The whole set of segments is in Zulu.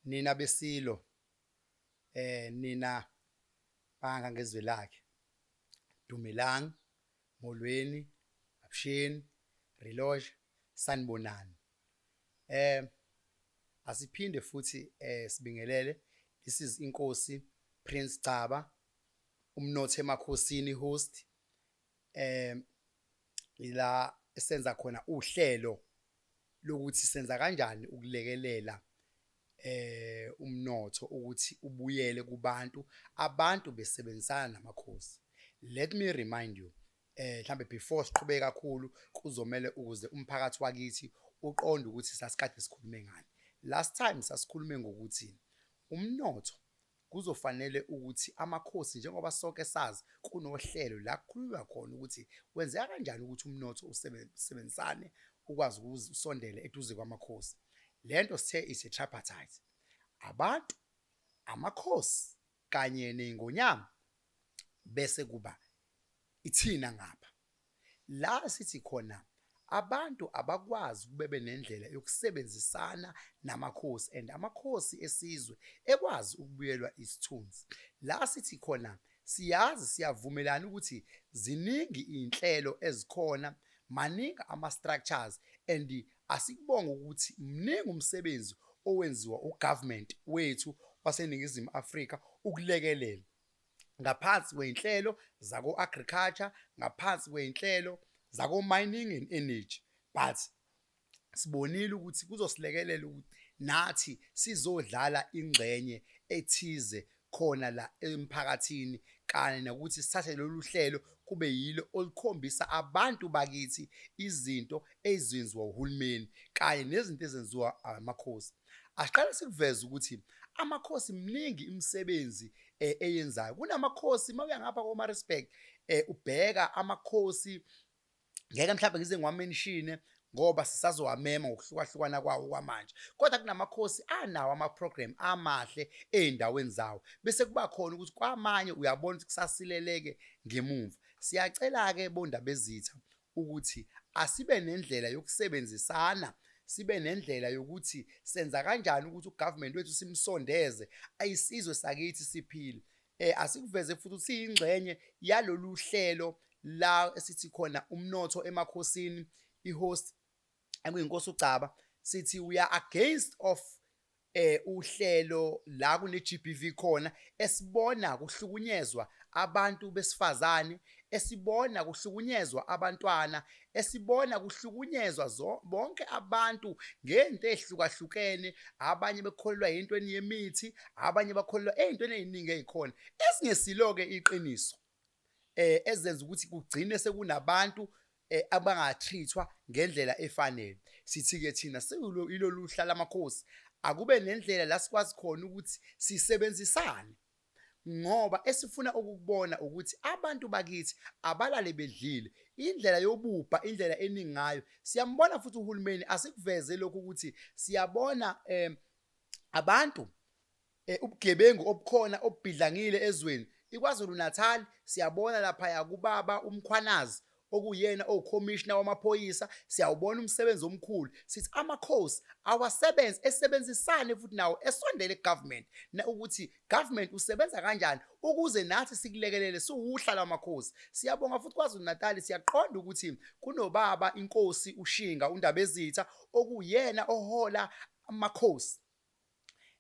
Nina beSilo, eh nina banga ngezwe lakhe. Dumelang, Molweni, Absheni, Reloge, Sanibonani. Eh asiphinde futhi eh sibingelele this is inkosi Prince Gcaba umnotho emakhosini host eh ila senza khona uhlelo lokuthi senza kanjani ukulekelela eh umnotho ukuthi ubuyele kubantu abantu besebenzisana namakhosi let me remind you eh mhlambe before siqhubeke kakhulu kuzomela ukuze umphakathi wakithi uqonde ukuthi sasikade sikhulume ngani last time sasikhulume ngokuthi umnotho Kuzofanele ukuthi amakhosi njengoba sonke sazi kunohlelo la kukhulunywa khona ukuthi kwenzeka kanjani ukuthi umnotho usebenzisane ukwazi ukuze usondele eduze kwamakhosi. Le nto sithe is a tripartite. Abantu, amakhosi kanye ney'ngonyama bese kuba ithina ngapha. La sithi khona abantu abakwazi ukube benendlela yokusebenzisana namakhosi and amakhosi esizwe ekwazi ukubuyelwa isithunzi la sithi khona siyazi siyavumelana ukuthi ziningi izinhlelo ezikhona maningi ama structures and asikubonga ukuthi mningi umsebenzi owenziwa ugovernment wethu waseningizimu Afrika ukulekelela ngaphansi kwey'nhlelo zako-agriculture ngaphansi kwey'nhlelo zako-mining and energy but sibonile ukuthi kuzosilekelela ukuthi nathi sizodlala ingxenye ethize khona la emphakathini kanye nokuthi sithathe lolu hlelo kube yilo olukhombisa abantu bakithi izinto ezenziwa uhulumeni kanye nezinto ezenziwa amakhosi asiqale sikuveze ukuthi amakhosi mningi imisebenzi eh, eyenzayo kunamakhosi uma uya ngapha koma respect eh, ubheka amakhosi ngeke mhlawumbe ngize ngiwamenshine ngoba sisazowamema ngokuhlukahlukana kwawo kwamanje kodwa kunamakhosi anawo ama-program amahle ey'ndaweni zawo bese kuba khona ukuthi kwamanye uyabona ukuthi kusasileleke ngemumva siyacela-ke bondabezitha ukuthi asibe nendlela yokusebenzisana sibe nendlela yokuthi senza kanjani ukuthi ugovernment wethu simsondeze ayisizwe sakithi siphile eh asikuveze futhi ukuthi siyingxenye yalolu hlelo la esithi khona umnotho emakhosini ihost ekuyinkosi uGcaba sithi we are against of eh uhlelo la kune GBV khona esibona kuhlukunyezwa abantu besifazane esibona kuhlukunyezwa abantwana esibona kuhlukunyezwa bonke abantu ngento ehlukahlukene abanye bekholelwa into eniyemithi abanye bakholelwa ezintweni eziningi ezikhona esingesilo ke iqiniso eh ezenza ukuthi kugcine sekunabantu eh, abangatreatwa ngendlela efanele sithi ke thina siyilolu hla lamakhosi akube nendlela la sikwazi khona ukuthi sisebenzisane ngoba esifuna ukukubona ukuthi abantu bakithi abalale bedlile indlela yobubha indlela eningayo siyambona futhi uhulumeni asikuveze lokho ukuthi siyabona eh abantu Eh, ubugebengu obukhona obubhidlangile ezweni ikwazulu-natal siyabona laphaya kubaba umkhwanazi okuyena owukhomishina wamaphoyisa siyawubona umsebenzi omkhulu sithi amakhosi awasebenzi esebenzisane futhi nawo esondele kugovernment na ukuthi government usebenza kanjani ukuze nathi sikulekelele siwuhla lwamakhosi siyabonga futhi kwazulu-natali siyaqonda ukuthi kunobaba inkosi ushinga undabezitha okuyena ohola amakhosi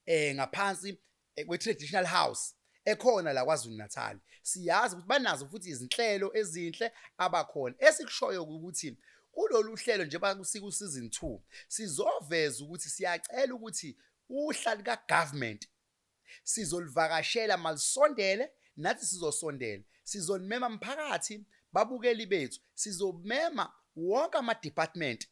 eh ngaphansi eh, kwe traditional house ekhona la kwaZulu Natal siyazi ukuthi banazo futhi izinhlelo ezinhle abakhona esikushoyo ukuthi kulolu hlelo nje bakusika usizini 2 sizoveza ukuthi siyacela ukuthi uhlali ka government sizolivakashela malisondele nathi sizosondela sizonimema mphakathi babukeli bethu sizomema wonke ama department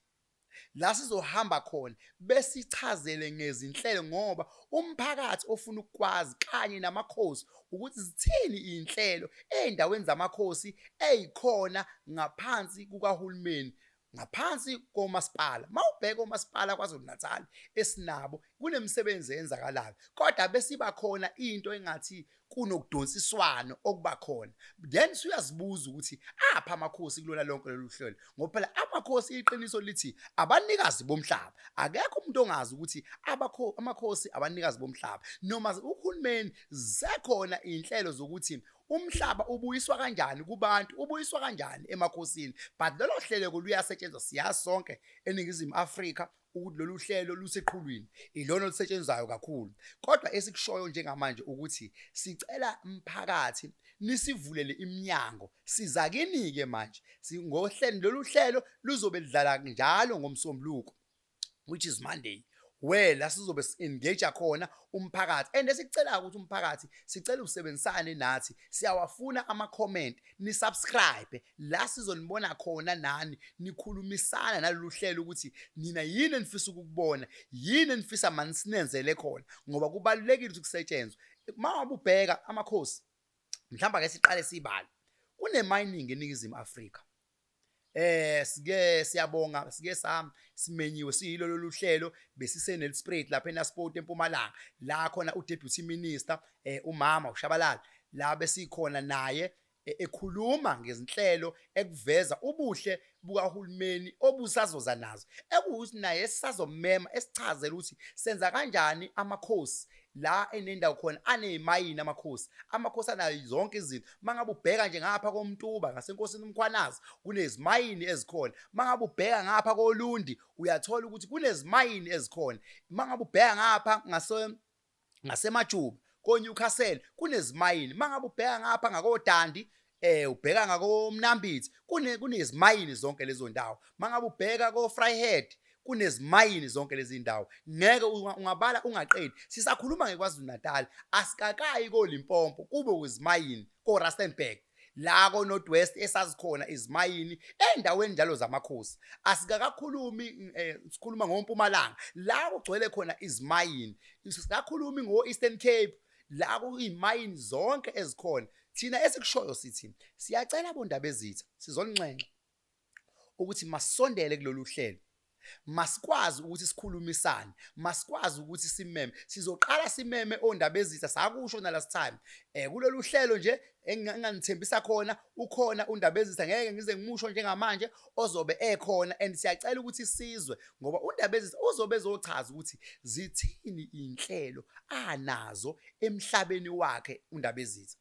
la sizohamba khona besichazele ngezinhlelo ngoba umphakathi ofuna ukwazi kanye namakhosi ukuthi zithini izinhlelo ezindaweni zamakhosi ezikhona ngaphansi kukahulumeni ngaphansi komasipala mawubheka omasipala KwaZulu-Natal esinabo kunemisebenzi eyenzakalayo kodwa besiba khona into engathi kunokudonsiswano okuba khona then suyazibuza ukuthi apha amakhosi kulona lonke lolu hlelo ngoba phela amakhosi iqiniso lithi abanikazi bomhlaba akekho umuntu ongazi ukuthi abakho amakhosi abanikazi bomhlaba noma uhulumeni zekhona inhlelo zokuthi umhlaba ubuyiswa kanjani kubantu ubuyiswa kanjani emakhosini but lelo hleleko luyasetshenzwa siyazi sonke eningizimu Afrika ukuthi lolu hlelo luseqhulwini ilona olusetshenzwayo kakhulu kodwa esikushoyo njengamanje ukuthi sicela umphakathi nisivulele iminyango sizakini-ke manje ngohlelo lolu hlelo luzobe lidlala njalo ngomsombuluko which is monday where la sizobe si-engage khona umphakathi and esikucelayo ukuthi umphakathi sicela usebenzisane nathi siyawafuna ama-comment nisubscribe la sizonibona khona nani nikhulumisana nalolu hlelo ukuthi nina yini enifisa ukukubona yini enifisa mani sinenzele khona ngoba kubalulekile ukuthi kusetshenzwe uma wabe ubheka amakhosi mhlawumbe ake siqale sibale kunemining eningizimu afrika eh sike siyabonga sike sam simenyiwe siyilo lolu hlelo besise nelsprit lapha eNasport eMpumalanga la khona uDeputy Minister eh umama uShabalala la besikhona naye e-, ekhuluma ngezinhlelo ekuveza ubuhle bukahulumeni obusazoza nazo ekuwukuthi naye sisazomema esichazela ukuthi senza kanjani amakhosi la enendawo khona anezimayini amakhosi amakhosi anayo zonke izinto mangabe ubheka nje ngapha komntuba ngasenkosini umkhwanazi kunezimayini ezikhona mangabe ubheka ngapha kolundi uyathola ukuthi kunezimayini ezikhona mangabe ubheka ngapha ngase ngasemajuba konewcastle kunezimayini mangabe ubheka ngapha ngakodandi eh ubheka ngakomnambithi kune kunezimayini zonke lezo ndawo mangabe ubheka ko Fryhead kunezimayini zonke lezi ndawo ngeke ungabala ungaqedi sisakhuluma ngekwaZulu Natal asikakayi koLimpompo kube uzimayini ko Rustenburg la ko North West esazikhona izimayini endaweni njalo zamakhosi asikakakhulumi eh, sikhuluma ngompumalanga la kugcwele khona izimayini sikakhulumi ngo Eastern Cape la kuyimayini zonke ezikhona thina esikushoyo sithi siyacela bondaba ezitha sizolinxenxa ukuthi masondele kulolu hlelo masikwazi ukuthi sikhulumisane masikwazi ukuthi simeme sizoqala simeme ondaba ezitha sakusho nalast time eh kulolu hlelo nje enginganithembisa khona ukhona undabezisa ngeke ngize ngimusho njengamanje ozobe ekhona and siyacela ukuthi sizwe ngoba undabezisa uzobe ezochaza ukuthi zithini inhlelo anazo emhlabeni wakhe undabezisa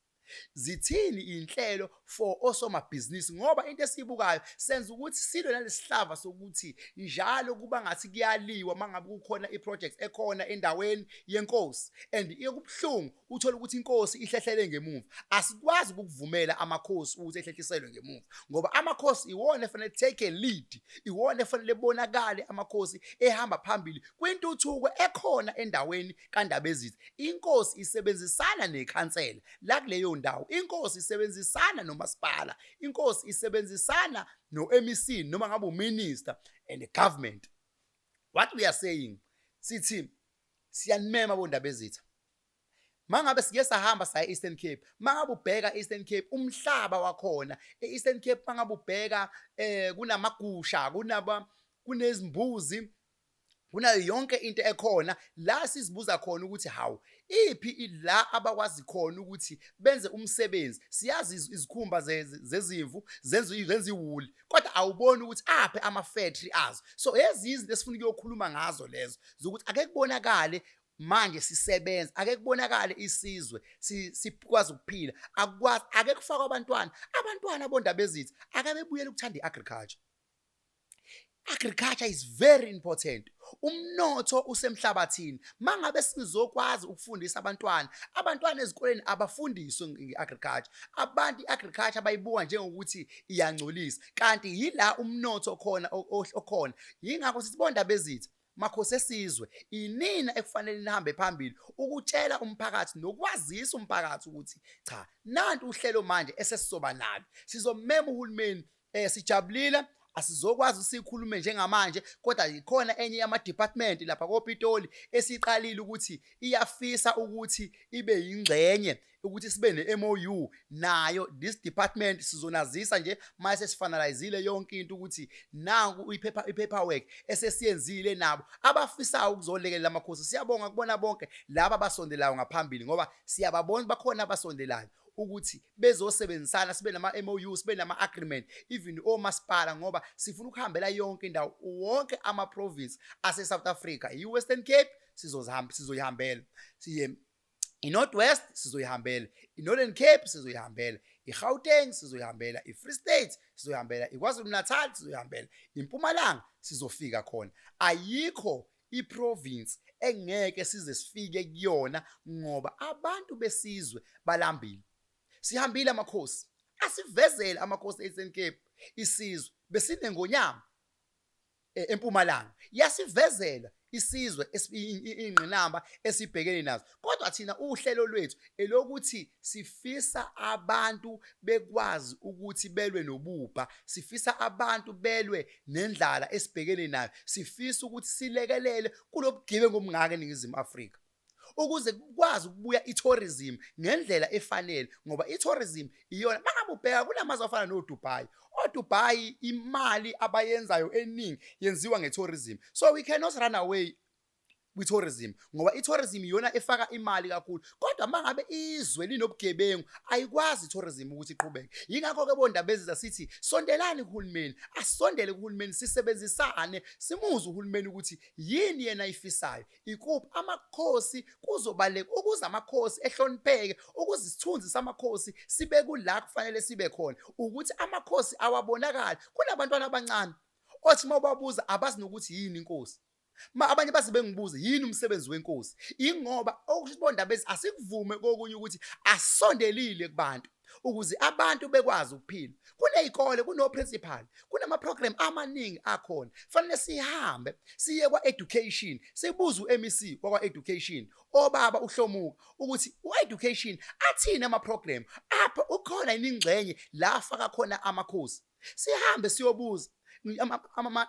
zithini inhlelo for osomabhizinisi ngoba into esiyibukayo senza ukuthi silwe nalesihlava sokuthi njalo kuba ngathi kuyaliwa mangabe kukhona iproject ekhona endaweni yenkosi and iyokubuhlungu uthole ukuthi inkosi ihlehlele ngemuva asikwazi ukuvumela amakhosi ukuthi ehlehliselwe ngemuva ngoba amakhosi iwona efanele take a lead iwona efanele bonakale amakhosi ehamba phambili kwintuthuko ekhona endaweni kandabezitha inkosi isebenzisana nekhansela la kuleyo ndawo inkosi isebenzisana nomasipala inkosi isebenzisana no-mec noma ngabe uminister and the government what we are saying sithi siyanimema bondabezitha mangabe sike sahamba saya Eastern Cape mangabe ubheka Eastern Cape umhlaba wakhona eEastern Cape mangabe ubheka eh kunamagusha kunaba kunezimbuzi kunayo yonke into ekhona la sizibuza khona ukuthi hawu iphi la abakwazi khona ukuthi benze umsebenzi siyazi izikhumba zezimvu zenza zenza iwuli kodwa awuboni ukuthi aphe ama factory azo so ezinye izinto esifuna ukuyokhuluma ngazo lezo zokuthi ake kubonakale manje sisebenza ake kubonakale isizwe sikwazi ukuphila akwazi ake kufakwa abantwana abantwana bondaba ezithi ake bebuyele ukuthanda iagriculture agriculture is very important umnotho usemhlabathini mangabe sizokwazi ukufundisa abantwana abantwana ezikoleni abafundiswe ngeagriculture abantu iagriculture bayibuka njengokuthi iyangcolisa kanti yila umnotho khona okhona yingakho sisibonda bezitha makhosi esizwe inina ekufanele nihambe phambili ukutshela umphakathi nokwazisa umphakathi ukuthi cha nanti uhlelo manje esesizoba nalo sizomema uhulumeni eh sijabulile asizokwazi sikhulume njengamanje kodwa ikhona enye yama department lapha koPitoli esiqalile ukuthi iyafisa ukuthi ibe yingxenye ukuthi sibe ne-MOU nayo this department sizonazisa nje uma sesifanalizile yonke into ukuthi nangu iphepha ipaperwork esesiyenzile nabo abafisayo ukuzolekelela amakhosi siyabonga kubona bonke laba basondelayo ngaphambili ngoba siyababona bakhona abasondelayo ukuthi bezosebenzisana sibe nama MOU sibe nama agreement even omasipala ngoba sifuna ukuhambela yonke indawo wonke ama province ase South Africa i Western Cape sizozihamba sizoyihambela siye iNorth West sizoyihambela iNorthern Cape sizoyihambela iGauteng sizoyihambela iFree State sizoyihambela iKwaZulu Natal sizoyihambela iMpumalanga sizofika khona ayikho iprovince engeke size sifike kuyona ngoba abantu besizwe balambile sihambile amakhosi asivezele amakhosi eSn Cape isizwe besinengonyama e, empumalanga yasivezela isizwe ingqinamba esibhekene nazo kodwa thina uhlelo lwethu elokuthi sifisa abantu bekwazi ukuthi belwe nobubha sifisa abantu belwe nendlala esibhekene nayo sifisa ukuthi silekelele kulobugebengu obungaka eNingizimu Afrika ukuze kukwazi ukubuya i-tourism ngendlela efanele ngoba i-tourism iyona mangabe ubheka kulamazwe afana nodubai odubai imali abayenzayo eningi yenziwa nge-tourism so we cannot run away kwi-tourism ngoba i-tourism iyona efaka imali kakhulu kodwa uma ngabe izwe linobugebengu ayikwazi i-tourism ukuthi iqhubeke yingakho-ke bondaba eziza sithi sondelani kuhulumeni asondele kuhulumeni sisebenzisane simuze uhulumeni ukuthi yini yena ayifisayo Ikuphi amakhosi kuzobaleka ukuze amakhosi ehlonipheke ukuze isithunzi samakhosi sibe kula kufanele sibe khona ukuthi amakhosi awabonakali kunabantwana abancane othi uma ubabuza abazi nokuthi yini inkosi ma abanye baze bengibuze yini umsebenzi wenkosi ingoba okusho ukuthi bondabezi asikuvume kokunye ukuthi asondelile kubantu ukuze abantu bekwazi ukuphila kunezikole kuno principal kunama program amaningi akhona fanele sihambe siye kwa education sibuze uMEC kwa education obaba uhlomuka ukuthi u education athini ama program apha ukhona iningxenye la faka khona amakhosi sihambe siyobuza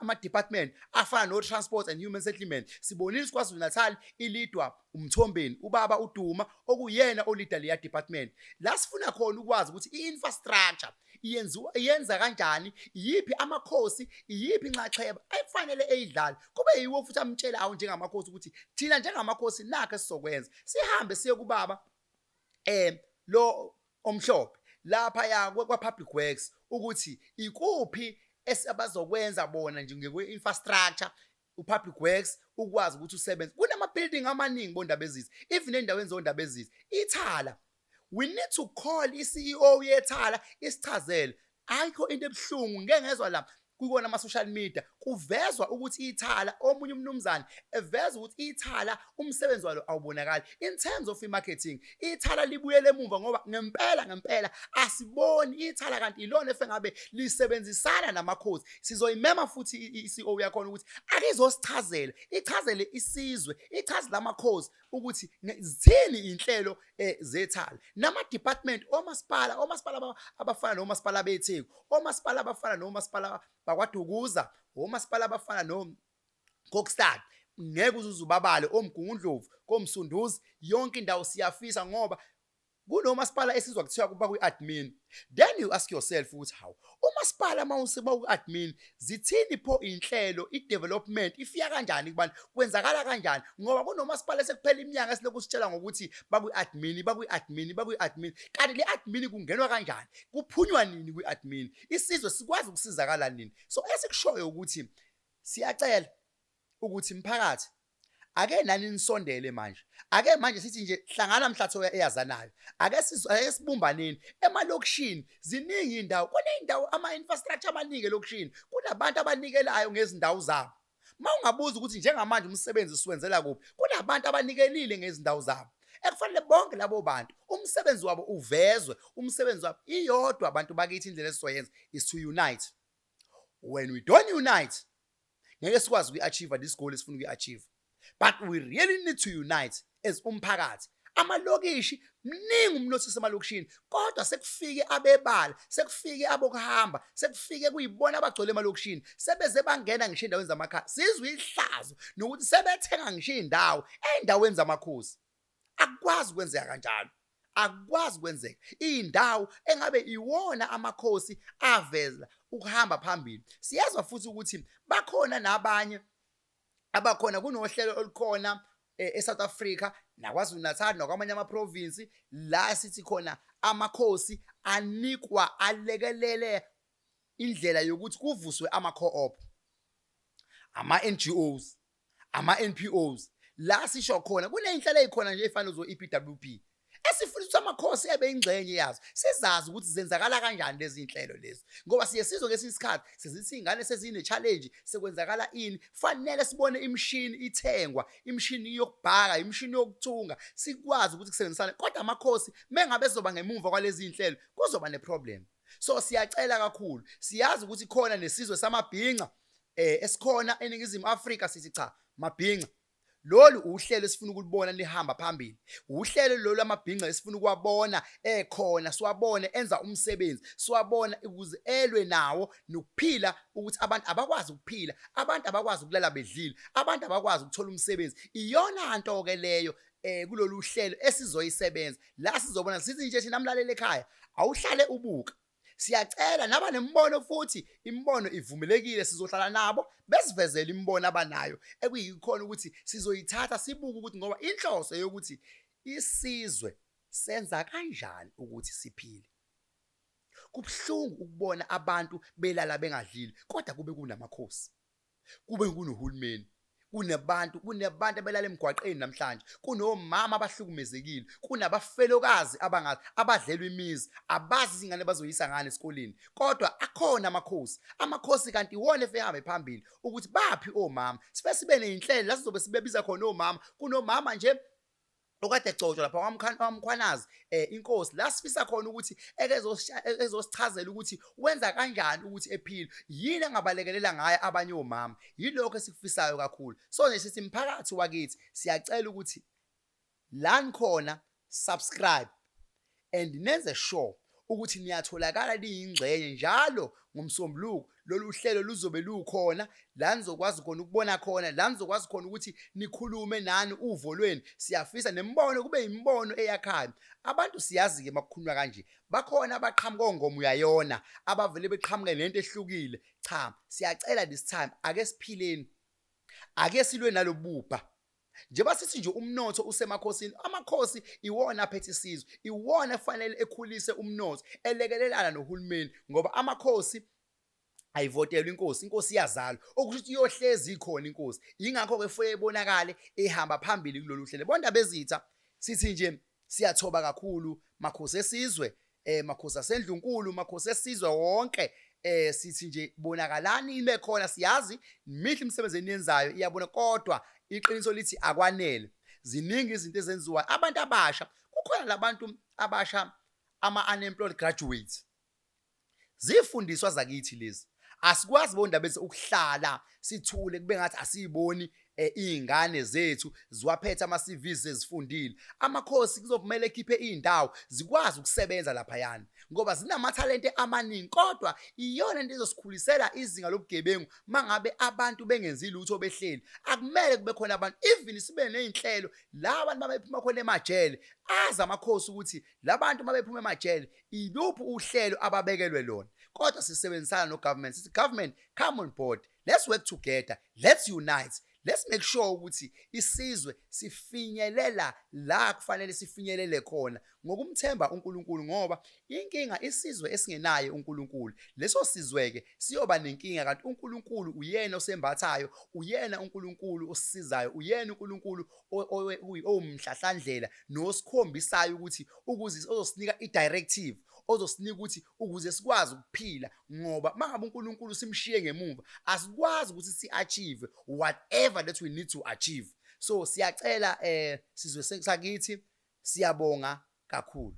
ama-department afana no-transport and human settlement sibonile sikwazi natal ilidwa umthombeni ubaba uduma okuyena olida leya department la sifuna khona ukwazi ukuthi i-infrastructure yenziwa yenza kanjani iyiphi amakhosi iyiphi inxaxheba ekufanele eyidlale kube yiwo futhi amtshela awu njengamakhosi ukuthi thina njengamakhosi nakhe sizokwenza sihambe siye kubaba eh lo omhlophe laphaya kwa-public works ukuthi ikuphi esabazokwenza bona nje ngekwe-infrastructure u-public works ukwazi ukuthi usebenze kunama-building amaningi bondaba ezizi even endaweni zondaba ezizi ithala we need to call i-ceo yethala isichazele ayikho into ebuhlungu ngeke ngezwa la kuyona ama-social media kuvezwa ukuthi ithala omunye umnumzane eveza ukuthi ithala umsebenzi walo awubonakali in terms of i-marketing ithala libuyele emuva ngoba ngempela ngempela asiboni ithala kanti ilona efe ngabe lisebenzisana namakhosi sizoyimema futhi i-ceo yakhona ukuthi akizosichazela ichazele isizwe ichazele amakhosi ukuthi zithini inhlelo eh, zethali nama department omasipala omasipala abafana nomasipala beTheku omasipala abafana nomasipala bakwaDukuza omasipala abafana no Kokstad ngeke uzuzubabale omgungundlovu komsunduzi yonke indawo siyafisa ngoba kunomasipala esizwa kuthiwa kuba kwi-admin then you ask yourself ukuthi hawu umasipala mawusiba ku-admin zithini pho inhlelo i-development ifika kanjani kubani kwenzakala kanjani ngoba kunomasipala esekuphela iminyaka esilokhu sitshela ngokuthi bakwi-admin bakwi-admin bakwi-admin kanti le admin kungenwa kanjani kuphunywa nini kwi-admin isizwe sikwazi ukusizakala nini so esikushoyo ukuthi siyacela ukuthi mphakathi ake nani nisondele manje ake manje sithi nje hlangana mhlatho eyazanayo ake sibumbaneni emalokishini ziningi indawo kuneyindawo ama infrastructure abanike lokishini kunabantu abanikelayo ngezindawo zabo mawungabuza ukuthi njengamanje umsebenzi siwenzela kuphi kunabantu abanikelile ngezindawo zabo ekufanele bonke labo bantu umsebenzi wabo uvezwe umsebenzi wabo iyodwa abantu bakithi indlela esizoyenza is to unite when we don't unite ngeke sikwazi ukuyi-achieve this goal esifuna ukuyi-achieve but we really need to unite as umphakathi amalokishi mningi umnotho semalokishini kodwa sekufike abebala sekufike abokuhamba sekufike kuyibona abagcwele emalokishini sebeze bangena ngisho endaweni zamakhaya sizwe ihlazo nokuthi sebethenga ngisho indawo endaweni zamakhosi akukwazi kwenzeka kanjalo akukwazi kwenzeka indawo engabe iwona amakhosi aveza ukuhamba phambili siyezwa futhi ukuthi bakhona nabanye abakhona kunohlelo olukhona eh, eSouth Africa naKwaZulu Natal nakwamanye amaprovince la sithi khona amakhosi anikwa alekelele indlela yokuthi kuvuswe ama-co-op ama-NGOs ama NPOs la sisho khona kuneyinhlelo ezikhona nje efana zo EPWP esifuna ukuthi amakhosi ebe ingxenye yazo sizazi ukuthi zenzakala kanjani lezi inhlelo lezi ngoba siye sizwe ngesinye isikhathi sezithi ingane sezine challenge sekwenzakala ini fanele sibone imishini ithengwa imishini yokubhaka imishini yokuthunga sikwazi ukuthi kusebenzisane kodwa amakhosi mengabe zoba ngemumva kwalezi inhlelo kuzoba ne problem so siyacela kakhulu siyazi ukuthi khona nesizwe samabhinca eh esikhona eningizimu Afrika sithi cha mabhinca lolu uhlelo esifuna ukulibona lihamba phambili uhlelo lolu amabhinca esifuna ukuwabona ekhona siwabone enza umsebenzi siwabona ukuze elwe nawo nokuphila ukuthi abantu abakwazi ukuphila abantu abakwazi ukulala bedlile abantu abakwazi ukuthola umsebenzi iyona nto ke leyo eh kulolu hlelo esizoyisebenza la sizobona sithi nje thina mlaleli ekhaya awuhlale ubuka Siyacela naba nemibono futhi imibono ivumelekile sizohlala nabo besivezele imibono abanayo ekuyikhona ukuthi sizoyithatha sibuke ukuthi ngoba inhloso yokuthi isizwe senza kanjani ukuthi siphile. Kubuhlungu ukubona abantu belala bengadlile kodwa kube kunamakhosi. kube kunohulumeni kunabantu kunabantu abelala emgwaqeni namhlanje kunomama abahlukumezekile kunabafelokazi abangazi abadlelwe imizi abazi izingane bazoyisa ngane esikoleni kodwa akhona amakhosi amakhosi kanti iwona efehambe phambili ukuthi baphi omama sife sibe neyinhlelo lasizobe sibebiza khona omama kunomama nje okade egcotshwa lapha kwamkhwanazi um eh, inkosi la sifisa khona ukuthi ekezosichazela ukuthi wenza kanjani ukuthi ephile yini angabalekelela ngayo abanye omama yilokho esikufisayo kakhulu so nje sithi mphakathi wakithi siyacela ukuthi lani khona subscribe and nenze sure ukuthi niyatholakala liyingxenye njalo ngomsombuluko lolu hlelo luzobe lukhona la nizokwazi khona ukubona khona la nizokwazi khona ukuthi nikhulume nani uvo lweni siyafisa nembono kube imibono eyakhayo abantu siyazi ke makukhulunywa kanje bakhona abaqhamuka ongoma uyayona abavele beqhamuke nento ehlukile cha siyacela this time ake siphileni ake silwe nalobubha njengoba sithi nje umnotho usemakhosini amakhosi iwona aphethe isizwe iwona efanele ekhulise umnotho elekelelana nohulumeni ngoba amakhosi ayivotelwa inkosi inkosi iyazalwa okusho ukuthi iyohlezi ikhona inkosi yingakho ke fuye ibonakale ihamba phambili kulolu hlelo bonda bezitha sithi nje siyathoba kakhulu makhosi esizwe eh makhosi asendlunkulu makhosi esizwe wonke eh sithi nje bonakalani ibe khona siyazi mihle imisebenzi eniyenzayo iyabona kodwa iqiniso lithi akwanele ziningi izinto ezenziwa abantu abasha kukhona labantu abasha ama unemployed graduates zifundiswa zakithi lezi asikwazi bondaba bese ukuhlala sithule kube ngathi asiyiboni eh izingane zethu ziwaphethe ama CVs ezifundile amakhosi kuzovumela ekhiphe izindawo zikwazi ukusebenza lapha yana ngoba zinamathalente amaningi kodwa iyona into ezosikhulisela izinga lobugebengu mangabe abantu bengenzi lutho behleli akumele kube khona abantu even sibe nezinhlelo la abantu babephuma khona emajele aza amakhosi ukuthi labantu mabephuma emajele iluphi uhlelo ababekelwe lona kodwa sisebenzisana no government sithi government come on board let's work together let's unite let's make sure ukuthi isizwe sifinyelela la kufanele sifinyelele khona ngokumthemba uNkulunkulu ngoba inkinga isizwe esingenaye uNkulunkulu leso sizweke siyoba nenkinga kanti uNkulunkulu uyena osembathayo uyena uNkulunkulu osisizayo uyena uNkulunkulu owumhlahlandlela nosikhombisayo ukuthi ukuze ozosinika idirective ozosinika ukuthi ukuze sikwazi ukuphila ngoba mangabe uNkulunkulu simshiye ngemuva asikwazi ukuthi siachieve whatever that we need to achieve so siyacela eh sizwe sakithi siyabonga kakhulu